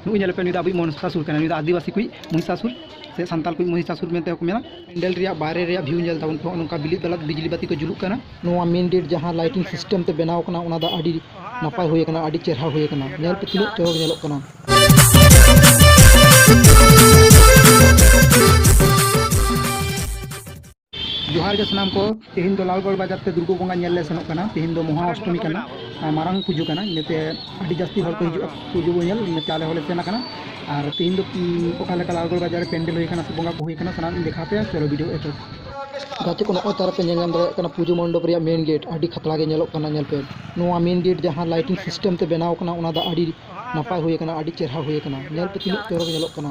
ᱱᱩᱭ ᱧᱮᱞ ᱯᱮ ᱱᱩᱭ ᱫᱚ ᱟᱵᱚᱭᱤᱡ ᱢᱚᱱᱥᱟᱥᱩᱨ ᱠᱟᱱᱟ ᱱᱩᱭ ᱫᱚ ᱟᱹᱫᱤᱵᱟᱹᱥᱤ ᱠᱚᱭᱤᱡ ᱢᱚᱦᱤᱥᱟᱥᱩᱨ ᱥᱮ ᱥᱟᱱᱛᱟᱲ ᱠᱚᱭᱤᱡ ᱢᱚᱦᱤᱥᱟᱥᱩᱨ ᱢᱮᱱᱛᱮ ᱦᱚᱸᱠᱚ ᱢᱮᱱᱟ ᱯᱮᱱᱰᱮᱞ ᱨᱮᱭᱟᱜ ᱵᱟᱦᱨᱮ ᱨᱮᱭᱟᱜ ᱵᱷᱤᱭᱩ ᱧᱮᱞ ᱛᱟᱵᱚᱱ ᱯᱮ ᱱᱚᱝᱠᱟ ᱵᱤᱞᱤ ᱵᱟᱞᱟᱛ ᱵᱤᱡᱽᱞᱤ ᱵᱟᱹᱛᱤ ᱠᱚ ᱡᱩᱞᱩᱜ ᱠᱟᱱᱟ ᱱᱚᱣᱟ ᱢᱮᱱ ᱜᱮᱴ ᱡᱟᱦᱟᱸ ᱞᱟᱭᱴᱤᱝ ᱥᱤᱥᱴᱮᱢ ᱛᱮ ᱵᱮᱱᱟᱣ ᱠᱟᱱᱟ ᱚᱱᱟ ᱫᱚ ᱟᱹᱰᱤ ᱱᱟᱯᱟᱭ ᱦᱩᱭ ᱠᱟᱱᱟ ᱟᱹᱰᱤ ᱪᱮᱦᱨᱟ ᱦᱩᱭ ᱠᱟᱱᱟ ᱧᱮᱞ ᱯᱮ ᱛᱤᱱᱟᱹᱜ ᱪᱚᱨᱚᱠ ᱧᱮᱞᱚᱜ ᱠᱟᱱᱟ ᱡᱚᱦᱟᱨ ᱜᱮ ᱥᱟᱱᱟᱢ ᱠᱚ ᱛᱮᱦᱮᱧ ᱫᱚ ᱞᱟᱞᱜᱚᱲ ᱵᱟᱡᱟᱨ ᱛᱮ ᱫᱩᱨᱜᱟᱹ ᱵᱚᱸᱜᱟ ᱧᱮᱞ ᱞᱮ ᱥᱮᱱᱚᱜ ᱠᱟᱱᱟ ᱛᱮᱦᱮᱧ ᱫᱚ ᱢᱚᱦᱟ ᱚᱥᱴᱚᱢᱤ ᱠᱟᱱᱟ ᱟᱨ ᱢᱟᱨᱟᱝ ᱯᱩᱡᱟᱹ ᱠᱟᱱᱟ ᱤᱱᱟᱹᱛᱮ ᱟᱹᱰᱤ ᱡᱟᱹᱥᱛᱤ ᱦᱚᱲ ᱠᱚ ᱦᱤᱡᱩᱜᱼᱟ ᱯᱩᱡᱟᱹ ᱵᱚᱱ ᱧᱮᱞ ᱤᱱᱟᱹᱛᱮ ᱟᱞᱮ ᱦᱚᱸᱞᱮ ᱥᱮᱱ ᱟᱠᱟᱱᱟ ᱟᱨ ᱛᱮᱦᱮᱧ ᱫᱚ ᱩᱸ, ᱚᱠᱟ ᱞᱮᱠᱟ ᱞᱟᱞᱜᱚᱲ ᱵᱟᱡᱟᱨ ᱨᱮ ᱯᱮᱱᱰᱮᱞ ᱦᱩᱭ ᱟᱠᱟᱱᱟ ᱥᱮ ᱵᱚᱸᱜᱟ ᱠᱚ ᱦᱩᱭ ᱟᱠᱟᱱᱟ ᱥᱟᱱᱟᱢ ᱤᱧ ᱫᱮᱠᱷᱟᱣ ᱯᱮᱭᱟ ᱪᱚᱞᱚ ᱵᱷᱤᱰᱤᱭᱳ ᱮᱛᱚᱦᱚᱵ ᱜᱟᱛᱮ ᱠᱚ ᱱᱚᱜᱼᱚᱭ ᱛᱟᱨᱯᱮ ᱧᱮᱞ ᱧᱟᱢ ᱫᱟᱲᱮᱭᱟᱜ ᱠᱟᱱᱟ ᱯᱩᱡᱟᱹ ᱢᱚᱱᱰᱚᱯ ᱨᱮᱭᱟᱜ ᱢᱮᱱ ᱜᱮᱴ ᱟᱹᱰᱤ ᱠᱷᱟᱛᱨᱟ ᱜᱮ ᱧᱮᱞᱚᱜ ᱠᱟᱱᱟ ᱧᱮᱞ ᱯᱮ ᱱᱚᱣᱟ ᱢᱮᱱ ᱜᱮᱴ ᱡᱟᱦᱟᱸ ᱞᱟᱭᱴᱤᱝ ᱥᱤᱥᱴᱮᱢ ᱛᱮ ᱵᱮᱱᱟᱣ ᱠᱟᱱᱟ ᱚᱱᱟ ᱫᱚ ᱟᱹᱰᱤ ᱱᱟᱯᱟᱭ ᱦᱩᱭ ᱟᱠᱟᱱᱟ ᱟᱹᱰᱤ ᱪᱮᱦᱨᱟ ᱦᱩᱭ ᱟᱠᱟᱱᱟ ᱧᱮᱞ ᱯᱮ ᱛᱤᱱᱟᱹᱜ ᱪᱚᱨᱚᱠ ᱧᱮᱞᱚᱜ ᱠᱟᱱᱟ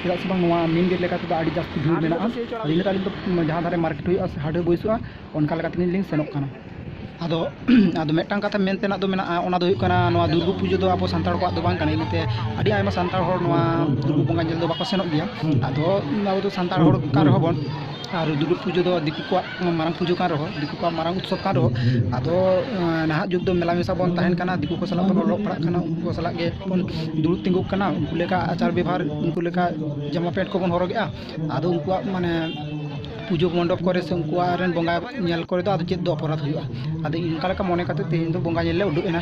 ᱪᱮᱫᱟᱜ ᱥᱮ ᱵᱟᱝ ᱱᱚᱣᱟ ᱢᱮᱱ ᱜᱮᱴ ᱞᱮᱠᱟ ᱛᱮᱫᱚ ᱟᱹᱰᱤ ᱡᱟᱹᱥᱛᱤ ᱵᱷᱤᱲ ᱢᱮᱱᱟᱜᱼᱟ ᱟᱫᱚ ᱤᱱᱟᱹᱛᱮ ᱟᱹᱞᱤᱧ ᱫᱚ ᱡᱟᱦᱟᱸ ᱫᱷᱟᱨᱮ ᱢᱟᱨᱠᱮᱴ ᱦᱩᱭᱩᱜᱼᱟ ᱥᱮ ᱦᱟᱴ ᱵᱟᱹᱭᱥᱟᱹᱜᱼᱟ ᱚᱱᱠᱟ ᱞᱮᱠᱟ ᱛᱮᱜᱮ ᱞᱤᱧ ᱥᱮᱱᱚᱜ ᱠᱟᱱᱟ ᱟᱫᱚ ᱟᱫᱚ ᱢᱤᱫᱴᱟᱝ ᱠᱟᱛᱷᱟ ᱢᱮᱱ ᱛᱮᱱᱟᱜ ᱫᱚ ᱢᱮᱱᱟᱜᱼᱟ ᱚᱱᱟ ᱫᱚ ᱦᱩᱭᱩᱜ ᱠᱟᱱᱟ ᱱᱚᱣᱟ ᱫᱩᱨᱜᱟᱹ ᱯᱩᱡᱟᱹ ᱫᱚ ᱟᱵᱚ ᱥᱟᱱᱛᱟᱲ ᱠᱚᱣᱟᱜ ᱫᱚ ᱵᱟᱝ ᱠᱟᱱᱟ ᱤᱱᱟᱹᱛᱮ ᱟᱹᱰᱤ ᱟᱭᱢᱟ ᱥᱟᱱᱛᱟᱲ ᱦᱚᱲ ᱱᱚᱣᱟ ᱫᱩᱨᱜᱟᱹ ᱵᱚᱸᱜᱟ ᱧᱮᱞ ᱫᱚ ᱵᱟᱠᱚ ᱥᱮᱱᱚᱜ ᱜᱮᱭᱟ ᱟᱫᱚ ᱟᱵᱚ ᱫᱚ ᱥᱟᱱᱛᱟᱲ ᱦᱚᱲ ᱠᱟᱱ ᱨᱮᱦᱚᱸ ᱵᱚᱱ ᱟᱨ ᱫᱩᱨᱜᱟᱹ ᱯᱩᱡᱟᱹ ᱫᱚ ᱫᱤᱠᱩ ᱠᱚᱣᱟᱜ ᱢᱟᱨᱟᱝ ᱯᱩᱡᱟᱹ ᱠᱟᱱ ᱨᱮᱦᱚᱸ ᱫᱤᱠᱩ ᱠᱚᱣᱟᱜ ᱢᱟᱨᱟᱝ ᱩᱛᱥᱚᱵᱽ ᱠᱟᱱ ᱨᱮᱦᱚᱸ ᱟᱫᱚ ᱱᱟᱦᱟᱜ ᱡᱩᱜᱽ ᱫᱚ ᱢᱮᱞᱟ ᱢᱮᱥᱟ ᱵᱚᱱ ᱛᱟᱦᱮᱱ ᱠᱟᱱᱟ ᱫᱤᱠᱩ ᱠᱚ ᱥᱟᱞᱟᱜ ᱵᱚᱱ ᱚᱞᱚᱜ ᱯᱟᱲᱦᱟᱜ ᱠᱟᱱᱟ ᱩᱱᱠᱩ ᱠᱚ ᱥᱟᱞᱟᱜ ᱜᱮᱵᱚᱱ ᱫᱩᱲᱩᱵ ᱛᱤᱸᱜᱩᱜ ᱠᱟᱱᱟ ᱩᱱᱠᱩ ᱞᱮᱠᱟ ᱟᱪᱟᱨ ᱵᱮᱵᱷᱟᱨ ᱩᱱᱠᱩ ᱞᱮᱠᱟ ᱡᱟᱢᱟ ᱯᱮᱱᱴ ᱠᱚᱵᱚᱱ ᱦᱚᱨᱚᱜᱮᱜᱼᱟ ᱟᱫᱚ ᱩᱱᱠᱩᱣᱟᱜ ᱢᱟᱱᱮ ᱯᱩᱡᱟᱹ ᱢᱚᱱᱰᱚᱯ ᱠᱚᱨᱮ ᱥᱮ ᱩᱱᱠᱩᱣᱟᱜ ᱨᱮᱱ ᱵᱚᱸᱜᱟ ᱧᱮᱞ ᱠᱚᱨᱮ ᱫᱚ ᱟᱫᱚ ᱪᱮᱫ ᱫᱚ ᱚᱯᱚᱨᱟᱫᱷ ᱦᱩᱭᱩᱜᱼᱟ ᱟᱫᱚ ᱚᱱᱠᱟ ᱞᱮᱠᱟ ᱢᱚᱱᱮ ᱠᱟᱛᱮ ᱛᱮᱦᱮᱧ ᱫᱚ ᱵᱚᱸᱜᱟ ᱧᱮᱞ ᱞᱮ ᱩᱰᱩᱠ ᱮᱱᱟ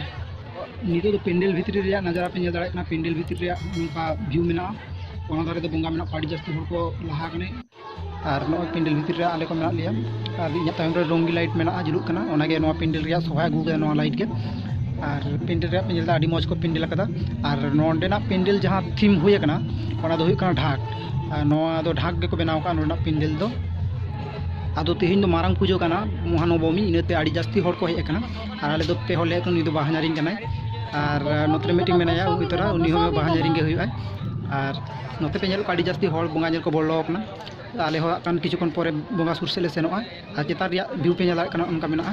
ᱱᱤᱛᱚᱜ ᱫᱚ ᱯᱮᱱᱰᱮᱞ ᱵᱷᱤᱛᱨᱤ ᱨᱮᱭᱟᱜ ᱱᱟᱡᱟᱨᱟ ᱯᱮ ᱧᱮᱞ ᱫᱟᱲᱮᱭᱟᱜ ᱠᱟᱱᱟ ᱯᱮᱱᱰᱮᱞ ᱵᱷᱤᱛᱨᱤ ᱨᱮᱭᱟᱜ ᱱᱚᱝᱠᱟ ᱵᱷᱤᱭᱩ ᱢᱮᱱᱟᱜᱼᱟ ᱚᱱᱟ ᱫᱷᱟᱨᱮ ᱫᱚ ᱵᱚᱸᱜᱟ ᱢᱮᱱᱟᱜ ᱠᱚᱣᱟ ᱟᱹᱰᱤ ᱡᱟᱹᱥᱛᱤ ᱦᱚᱲ ᱠᱚ ᱞᱟᱦᱟ ᱟᱠᱟᱱᱟ ᱟᱨ ᱱᱚᱜᱼᱚᱭ ᱯᱮᱱᱰᱮᱞ ᱵᱷᱤᱛᱤᱨ ᱨᱮ ᱟᱞᱮ ᱠᱚ ᱢᱮᱱᱟᱜ ᱞᱮᱭᱟ ᱟᱨ ᱤᱧᱟᱹᱜ ᱛᱟᱭᱚᱢ ᱨᱮ ᱨᱚᱝᱜᱤ ᱞᱟᱭᱤᱴ ᱢᱮᱱᱟᱜᱼᱟ ᱡᱩᱞᱩᱜ ᱠᱟᱱᱟ ᱚᱱᱟᱜᱮ ᱱᱚᱣᱟ ᱯᱮᱱᱰᱮᱞ ᱨᱮᱭᱟᱜ ᱥᱚᱵᱷᱟᱭ ᱟᱹᱜᱩ ᱠᱟᱫᱟ ᱱᱚᱣᱟ ᱞᱟᱭᱤᱴ ᱜᱮ ᱟᱨ ᱯᱮᱱᱰᱮᱞ ᱨᱮᱭᱟᱜ ᱯᱮ ᱧᱮᱞ ᱮᱫᱟ ᱟᱹᱰᱤ ᱢᱚᱡᱽ ᱠᱚ ᱯᱮᱱᱰᱮᱞ ᱟᱠᱟᱫᱟ ᱟᱨ ᱱᱚᱸᱰᱮᱱᱟᱜ ᱯᱮᱱᱰᱮᱞ ᱡᱟᱦᱟᱸ ᱛᱷᱤᱢ ᱦᱩᱭ ᱟᱠᱟᱱᱟ ᱚᱱᱟ ᱫᱚ ᱦᱩᱭᱩᱜ ᱠᱟᱱᱟ ᱰᱷᱟᱠ ᱟᱨ ᱱᱚᱣᱟ ᱫᱚ ᱰᱷᱟᱠ ᱜᱮᱠᱚ ᱵᱮᱱᱟᱣ ᱟᱠᱟᱫᱼᱟ ᱱᱚᱸᱰᱮᱱᱟᱜ ᱯᱮᱱᱰᱮᱞ ᱫᱚ ᱟᱫᱚ ᱛᱮᱦᱮᱧ ᱫᱚ ᱢᱟᱨᱟᱝ ᱯᱩᱡᱟᱹ ᱠᱟᱱᱟ ᱢᱚᱦᱟᱱᱚᱵᱚᱢᱤ ᱤᱱᱟᱹᱛᱮ ᱟᱹᱰᱤ ᱡᱟᱹᱥᱛᱤ ᱦᱚᱲ ᱠᱚ ᱦᱮᱡ ᱟᱠᱟᱱᱟ ᱟᱨ ᱟᱞᱮ ᱫᱚ ᱯᱮ ᱦᱚᱲ ᱞᱮ ᱦᱮᱡ ᱟᱠᱟᱱᱟ ᱩᱱᱤ ᱫᱚ ᱵᱟᱦᱟ ᱧᱟᱨᱤᱧ ᱠᱟᱱᱟᱭ ᱟᱨ ᱱᱚᱛᱮ ᱨᱮ ᱢᱤᱫᱴᱤᱱ ᱢᱮᱱᱟᱭᱟ ᱩᱱᱤ ᱛᱚᱨᱟ ᱩᱱᱤ ᱦᱚᱸ ᱵᱟᱦᱟ ᱧᱟᱨᱤᱧ ᱜᱮ ᱦᱩᱭᱩᱜᱼᱟᱭ ᱟᱨ ᱱᱚᱛᱮ ᱯᱮ ᱧᱮᱞᱚᱜ ᱠᱟᱱᱟ ᱟᱹᱰᱤ ᱡᱟᱹᱥᱛᱤ ᱦᱚᱲ ᱵᱚᱸᱜᱟ ᱧᱮᱞ ᱠᱚ ᱵᱚᱞᱚ ᱟᱠᱟᱱᱟ ᱟᱞᱮ ᱦᱚᱸ ᱦᱟᱸᱜ ᱠᱷᱟᱱ ᱠᱤᱪᱷᱩ ᱠᱷᱚᱱ ᱯᱚᱨᱮ ᱵᱚᱸᱜᱟ ᱥᱩᱨ ᱥᱮᱫ ᱞᱮ ᱥᱮᱱᱚᱜᱼᱟ ᱟᱨ ᱪᱮᱛᱟᱱ ᱨᱮᱭᱟᱜ ᱵᱷᱤᱭᱩ ᱯᱮ ᱧᱮᱞ ᱫᱟᱲᱮᱭᱟᱜ ᱠᱟᱱᱟ ᱚᱱᱠᱟ ᱢᱮᱱᱟᱜᱼᱟ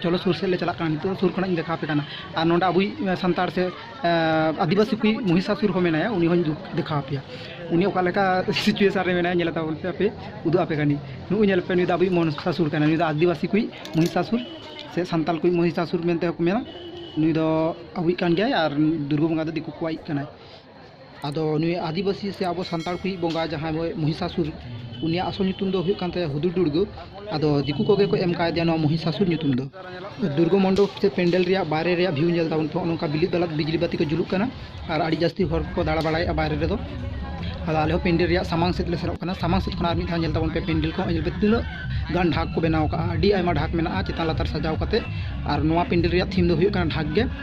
ᱪᱚᱞᱚ ᱥᱩᱨ ᱥᱮᱫ ᱞᱮ ᱪᱟᱞᱟᱜ ᱠᱟᱱᱟ ᱱᱤᱛᱚᱜ ᱥᱩᱨ ᱠᱷᱚᱱᱟᱜ ᱤᱧ ᱫᱮᱠᱷᱟᱣ ᱟᱯᱮ ᱠᱟᱱᱟ ᱟᱨ ᱱᱚᱰᱮ ᱟᱵᱚᱭᱤᱡ ᱥᱟᱱᱛᱟᱲ ᱥᱮ ᱟᱹᱫᱤᱵᱟᱹᱥᱤ ᱠᱚᱭᱤᱡ ᱢᱚᱦᱤᱥᱟᱥᱩᱨ ᱦᱚᱸ ᱢᱮᱱᱟᱭᱟ ᱩᱱᱤ ᱦᱚᱸᱧ ᱫᱮᱠᱷᱟᱣ ᱟᱯᱮᱭᱟ ᱩᱱᱤ ᱚᱠᱟ ᱞᱮᱠᱟ ᱥᱤᱪᱩᱭᱮᱥᱚᱱ ᱨᱮ ᱢᱮᱱᱟᱭᱟ ᱧᱮᱞ ᱛᱟᱵᱚᱱ ᱯᱮ ᱟᱯᱮ ᱩᱫᱩᱜ ᱟᱯᱮ ᱠᱟᱹᱱᱟᱹᱧ ᱱᱩᱜᱼᱩᱭ ᱧᱮᱞ ᱯᱮ ᱱᱩᱭ ᱫᱚ ᱟᱵᱚᱭᱤᱡ ᱢᱚᱦᱤᱥᱟᱥᱩᱨ ᱠᱟᱱᱟᱭ ᱱᱩᱭ ᱫᱚ ᱟᱹᱫᱤᱵᱟᱹᱥᱤ ᱠᱚᱭᱤᱡ ᱢᱚᱦᱤᱥᱟᱥᱩᱨ ᱥᱮ ᱥᱟᱱᱛᱟᱲ ᱠᱚᱭᱤᱡ ᱢᱚᱦᱤᱥᱟᱥᱩᱨ ᱢᱮᱱᱛᱮ ᱦᱚᱸᱠᱚ ᱢᱮᱱᱟ ᱱᱩᱭ ᱫᱚ ᱟᱵᱚᱭᱤᱡ ᱠᱟᱱ ᱜᱮᱭᱟᱭ ᱟᱨ ᱫᱩᱨᱜᱟᱹ ᱵᱚᱸᱜᱟ ᱫᱚ ᱫᱤᱠᱩ ᱠᱚᱣᱟᱭᱤᱡ ᱠᱟᱱᱟᱭ ᱟᱫᱚ ᱱᱩᱭ ᱟᱹᱫᱤᱵᱟᱹᱥᱤ ᱥᱮ ᱟᱵᱚ ᱥᱟᱱᱛᱟᱲ ᱠᱚᱭᱤᱡ ᱵᱚᱸᱜᱟ ᱡᱟᱦᱟᱸᱭ ᱫᱚ ᱢᱚᱦᱤᱥᱟᱥᱩᱨ ᱩᱱᱤᱭᱟᱜ ᱟᱥᱚᱞ ᱧᱩᱛᱩᱢ ᱫᱚ ᱦᱩᱭᱩᱜ ᱠᱟᱱ ᱛᱟᱭᱟ ᱦᱩᱫᱩᱲ ᱫᱩᱨᱜᱟᱹ ᱟᱫᱚ ᱫᱤᱠᱩ ᱠᱚᱜᱮ ᱠᱚ ᱮᱢ ᱠᱟᱣᱫᱮᱭᱟ ᱱᱚᱣᱟ ᱢᱚᱦᱤᱥᱟᱥᱩᱨ ᱧᱩᱛᱩᱢ ᱫᱚ ᱫᱩᱨᱜᱟᱹ ᱢᱚᱱᱰᱚᱯ ᱥᱮ ᱯᱮᱱᱰᱮᱞ ᱨᱮᱭᱟᱜ ᱵᱟᱦᱨᱮ ᱨᱮᱭᱟᱜ ᱵᱷᱤᱭᱩ ᱧᱮᱞ ᱛᱟᱵᱚᱱ ᱯᱮ ᱦᱚᱸᱜᱼᱚ ᱱᱚᱝᱠᱟ ᱵᱤᱞᱤᱫ ᱫᱟᱞᱟᱫ ᱵᱤᱡᱽᱞᱤ ᱵᱟᱹᱛᱤ ᱠᱚ ᱡᱩᱞᱩᱜ ᱠᱟᱱᱟ ᱟᱨ ᱟᱹᱰᱤ ᱡᱟᱹᱥᱛᱤ ᱦᱚᱲ ᱠᱚ ᱫᱟᱬᱟ ᱵᱟᱲᱟᱭᱮᱫᱼᱟ ᱵᱟᱦᱨᱮ ᱨᱮᱫᱚ ᱟᱫᱚ ᱟᱞᱮ ᱦᱚᱸ ᱯᱮᱱᱰᱮᱞ ᱨᱮᱭᱟᱜ ᱥᱟᱢᱟᱝ ᱥᱮᱫ ᱞᱮ ᱥᱮᱱᱚᱜ ᱠᱟᱱᱟ ᱥᱟᱢᱟᱝ ᱥᱮᱫ ᱠᱷᱚᱱ ᱟᱨ ᱢᱤᱫ ᱫᱷᱟᱣ ᱧᱮᱞ ᱛᱟᱵᱚᱱ ᱯᱮ ᱯᱮᱱᱰᱮᱞ ᱠᱚ ᱧᱮᱞ ᱯᱮ ᱛᱤᱱᱟᱹᱜ ᱜᱟᱱ ᱰᱷᱟᱠ ᱠᱚ ᱵᱮᱱᱟᱣ ᱠᱟᱜᱼᱟ ᱟᱹᱰᱤ ᱟᱭᱢᱟ ᱰᱷᱟᱠ ᱢᱮᱱᱟᱜᱼᱟ ᱪᱮᱛᱟᱱ ᱞᱟᱛᱟᱨ ᱥᱟᱡᱟᱣ ᱠᱟᱛᱮᱫ ᱟᱨ ᱱᱚᱣᱟ ᱯᱮᱱᱰᱮᱞ ᱨᱮᱭᱟᱜ ᱛᱷᱤᱢ ᱫᱚ ᱦᱩᱭᱩᱜ ᱠᱟᱱᱟ ᱰᱷᱟᱠ ᱜᱮ